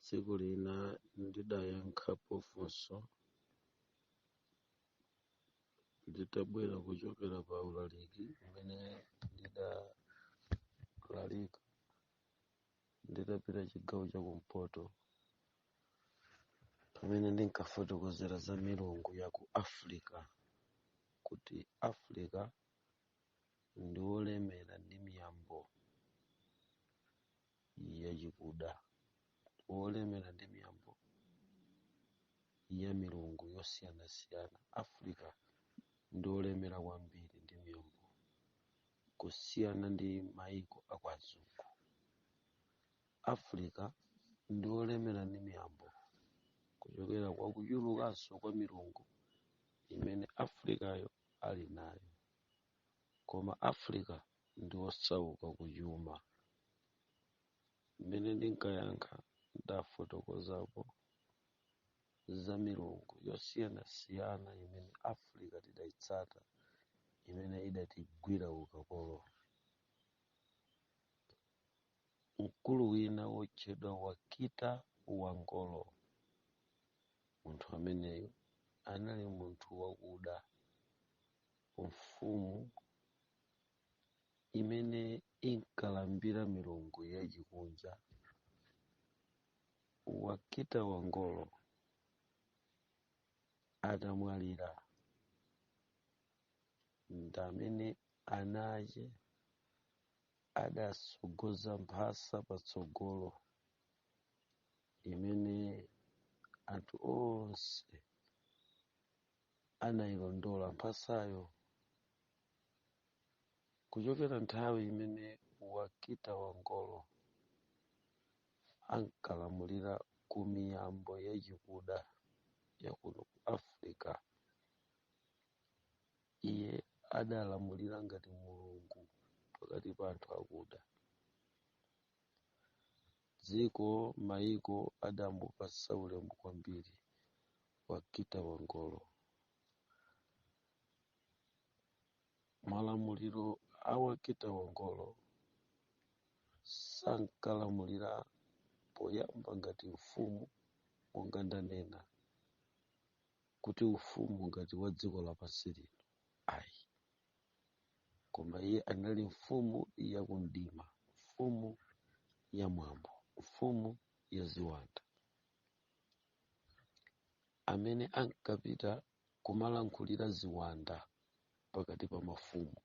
tsiku lina ndidayankhapo funso nditabwera kuchokera pa ulaliki umene ndidalalika nditapita chigawo cha kumpoto pamene ndinkafotokozera za milungu ya ku africa kuti africa ndi olemera ndi miyambo yachikuda olemera ndi miyambo ya milungu yosiyanasiyana africa ndi olemera kwambiri ndi miyambo kusiyana ndi maiko akwazungu africa ndi olemera ndi miyambo kuchokera kwa kuchulukanso kwa milungu imene africayo ali nayo koma africa ndi osauka kuchuma mmene ndinkayankha ndafotokozapo za milungu yosiyanasiyana imene africa tidayitsata imene idatigwira ukapolo mkulu wina wotchedwa Wakita Wangolo. Munthu ameneyo anali munthu wakuda mfumu imene inkalambira milungu yachikunja. Wakita Wangolo atamwalira ndamene ana ache adatsogoza mphasa patsogolo imene anthu onse anayilondola mphasayo kuchokera nthawi imene wakita wangolo ankalamulira ku miyambo yachikuda yakuno ku africa iye adalamulira ngati mulungu pakati pa anthu akuda dziko maiko adamupatsa ulemu kwambiri wakita wangolo malamulilo a wakita wangolo sankalamulira poyamba ngati mfumu monga ndanena kuti ufumu ngati wa dziko lapansi lino ayi koma iye anali mfumu ya kumdima mfumu ya mwambo mfumu ya ziwanda amene ankapita kumalankhulira ziwanda pakati pa mafumu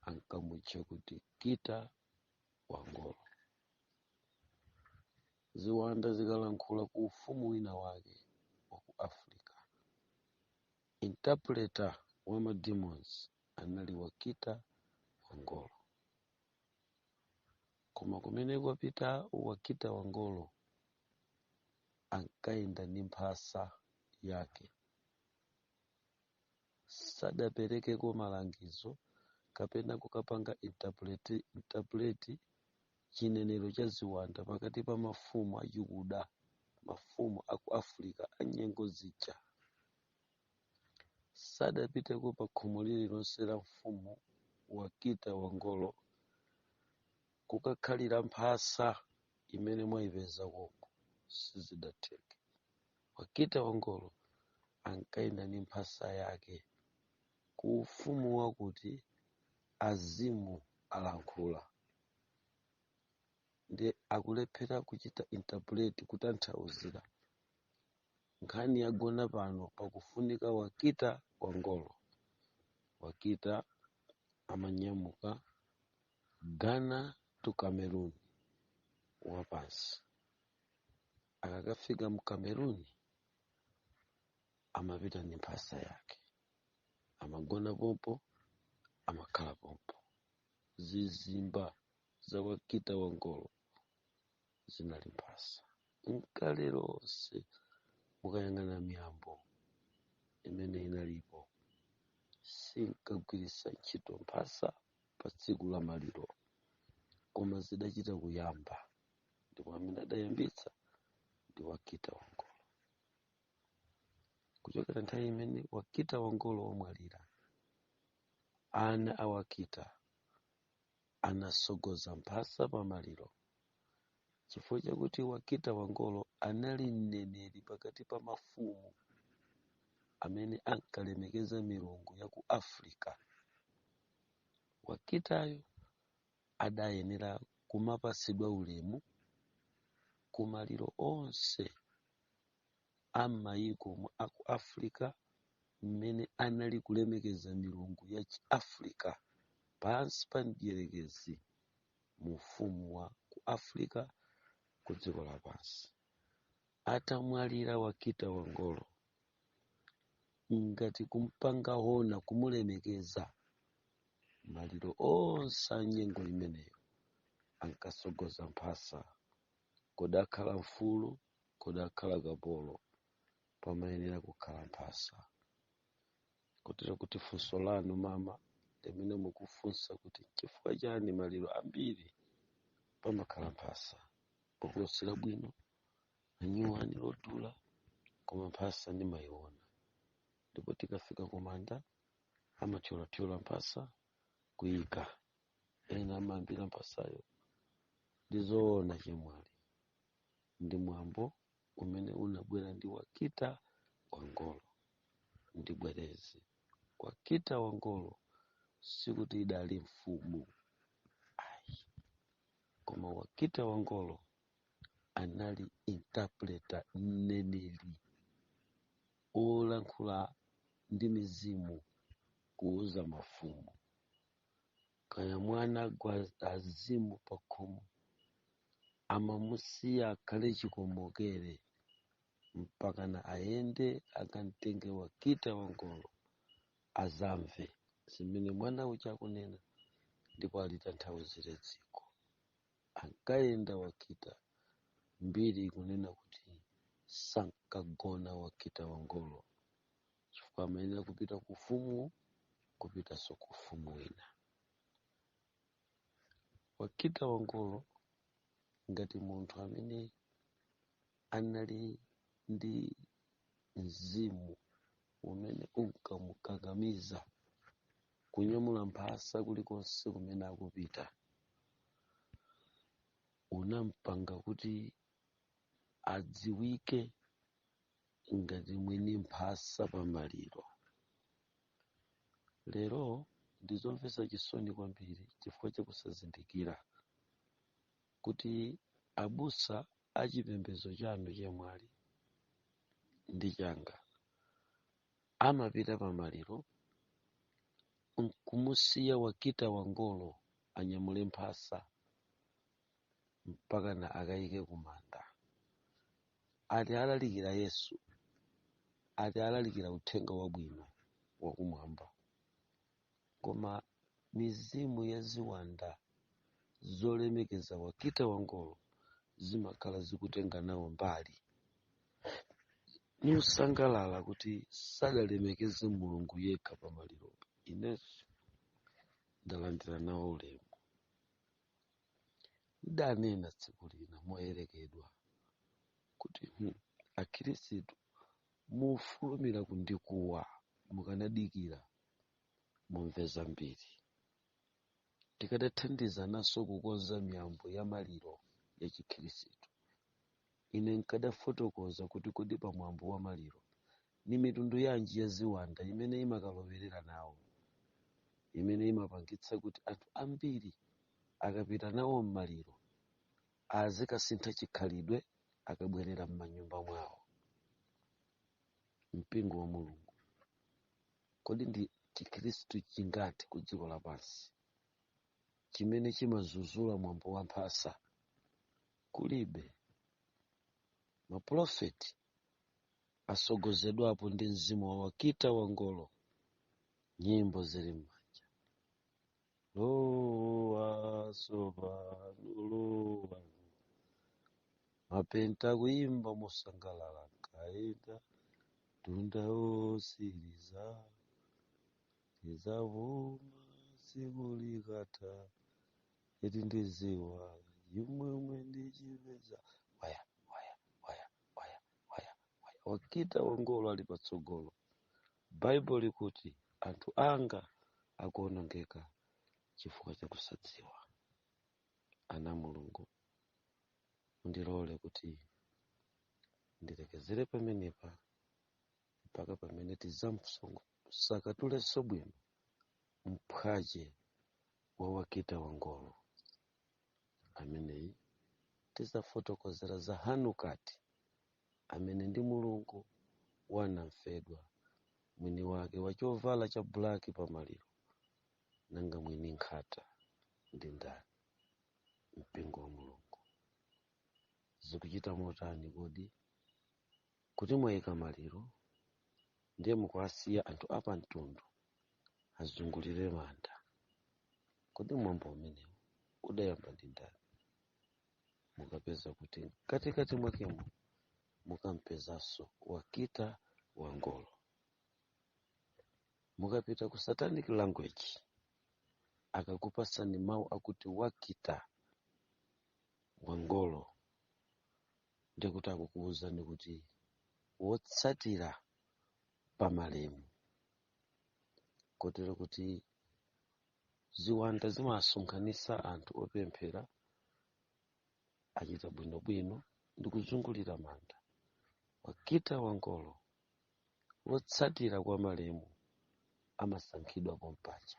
ankamutcha kuti kita wangolo ziwanda zikalankhula ku ufumu wina wake wa ku africa interpreter wa ma demons anali wakita wangolo koma kumene kwapita wakita wangolo ankayenda ndi mphasa yake sadaperekeko malangizo kapena kukapanga interpret- interpret chinenero cha ziwanda pakati pa mafumu achikuda mafumu a ku africa a nyengo zija sadapiteko pa khomo lililonse la mfumu wakita wangolo kukakhalira mphasa imene mwayipeza koko sizidatheke Wakita Wangolo ankayenda ndi mphasa yake ku ufumu wakuti azimu alankhula ndi akulephera kuchita interpret kutanthauzira nkhani yagona pano pakufunika wakita wangolo wakita amanyamuka ghana to cameroon wapansi akakafika mu cameroon amapita ndi mphasa yake amagona pompo amakhala pompo zizimba za wakita wangolo zinali mphasa nkale lonse mukayang'ana miyambo imene inalipo sinkagwiritsa ntchito mphasa pa tsiku la maliro koma zidachita kuyamba ndipo amene adayambitsa ndi wakita wangolo kuchokera nthawi imene wakita wangolo wamwalira ana a wakita anatsogoza mphasa pa maliro chifukwa chakuti wakita wangolo anali mneneri pakati pa mafumu amene ankalemekeza milungu ya ku africa wakitayo adayenera kumapatsidwa ulemu ku maliro onse a m'mayiko mu a ku africa mmene anali kulemekeza milungu ya chiafrica pansi pa mdierekezi mu ufumu wa ku africa ku dziko lapansi atamwalira wakita wangolo ngati kumpanga ona kumulemekeza maliro onse a nyengo imeneyo ankasogoza mphasa kodi akhala mfulu kodi akhala kapolo pamayenera kukhala mphasa kotero kuti funso lanu mama limene mukufunsa kuti nchifukwa chani maliro ambiri pamakhala mphasa pokulosera bwino anyuwani lodula koma mphasa ndimayiona ndipo tikafika kumanda amathyolathyola mphasa kuyika ena amayambira mphasayo ndizoona chemwali ndi mwambo umene unabwera ndi wakita wangolo ndibwereze wakita wangolo sikuti idali mfumu ayi koma wakita wangolo anali interpreter mneneri olankhula ndi mizimu kuuza mafumu kaya mwana gwa azimu pakhomo amamusiya akhale chikomokere mpakana ayende akamtenge wakita wangolo azamve zimene mwana uja akunena ndipo alitanthauzire dziko ankayenda wakita mbiri ikunena kuti sankagona wakita wangolo chifukwa amayenera kupita ku ufumu kupitanso ku ufumu wina wakita wangolo ngati munthu amene anali ndi mzimu umene unkamukakamiza kunyamula mphasa kulikonse kumene akupita unampanga kuti adziwike ngati mwini mphasa pa maliro lero ndizomvetsa chisoni kwambiri chifukwa chakusazindikira kuti abusa achipembedzo chanu chemwali ndi changa amapita pamaliro nkumusiya wakita wangolo anyamule mphasa mpakana akayike kumanda ati alalikira yesu ati alalikira uthenga wabwino wakumwamba koma mizimu ya ziwanda zolemekeza wakita wangolo zimakhala zikutenga nawo mbali nikusangalala kuti sadalemekeze mulungu yekha pa maliropo inenso ndalandira nawo ulemu ndidanena tsiku lina moyerekedwa kuti hmm, akhirisitu mufulumira kundikuwa mukanadikira mumve zambiri tikadathandizananso kukonza miyambo ya maliro ya chikhirisitu ine nkadafotokoza kuti kodi pa mwambo wa maliro ni mitundu yanji ya ziwanda imene imakalowerera nawo imene imapangitsa kuti anthu ambiri akapita nawo m'maliro azikasintha chikhalidwe akabwerera m'manyumba mwawo mpingo wa mulungu kodi ndi chikhristu chingati ku dziko lapansi chimene chimazuzula mwambo wa mphasa kulibe mapulofeti asogozedwapo ndi mzimu wa wakita wangolo nyimbo zili m'manja lowa sopano lowa mapenta kuimba mosangalala kaenda tunda osiriza izavuma siku likata iti ndiziwa imwemwe ndichipeza waya waya waya waya waya waya wakita wangolo ali patsogolo Baibulo likuti anthu anga akuonongeka chifukwa cha kusadziwa. Ana a Mulungu, mundilole kuti ndilekezere pamenepa mpaka pamene tidzamsakatulenso bwino mphwache wa wakita wangolo ameneyi tidzafotokozera za hanukati amene ndi mulungu wa namfedwa mwini wake wa chovala cha bulaki pa maliro nanga mwini nkhata ndi ndani mpingo wa mulungu zikuchita motani kodi kuti mwayika maliro ndiye mukuwasiya anthu apamtundu azungulire manda kodi mwambo umenewu udayamba ndi ndani mukapeza kuti mkatikati mwakemo mukampezanso wakita wangolo mukapita ku satanic language akakupasani mawu akuti wakita wangolo ndikuti akukuwuzani kuti wotsatira pamalemu kotero kuti ziwanda zimasonkhanitsa anthu opemphera akuchita bwinobwino ndi kuzungulira manda wachitatu wangolo wotsatira kwa malemu amasankhidwa pompaja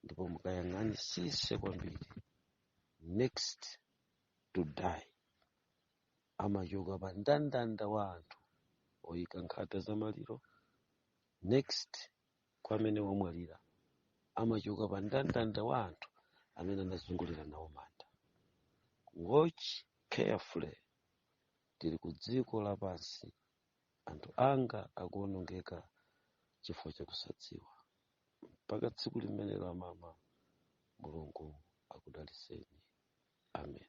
ndipo mukayang'anisise kwambiri next to die amachoka pa ndandanda wa anthu oyika nkhata za maliro next kwa amene wamwalira amachoka pa ndandanda wa anthu amene anazungulira nawo manda watch carefully tili ku dziko lapansi anthu anga akuonongeka chifukwa chakusadziwa mpaka tsiku limenelo amama mulungu akudaliseni amen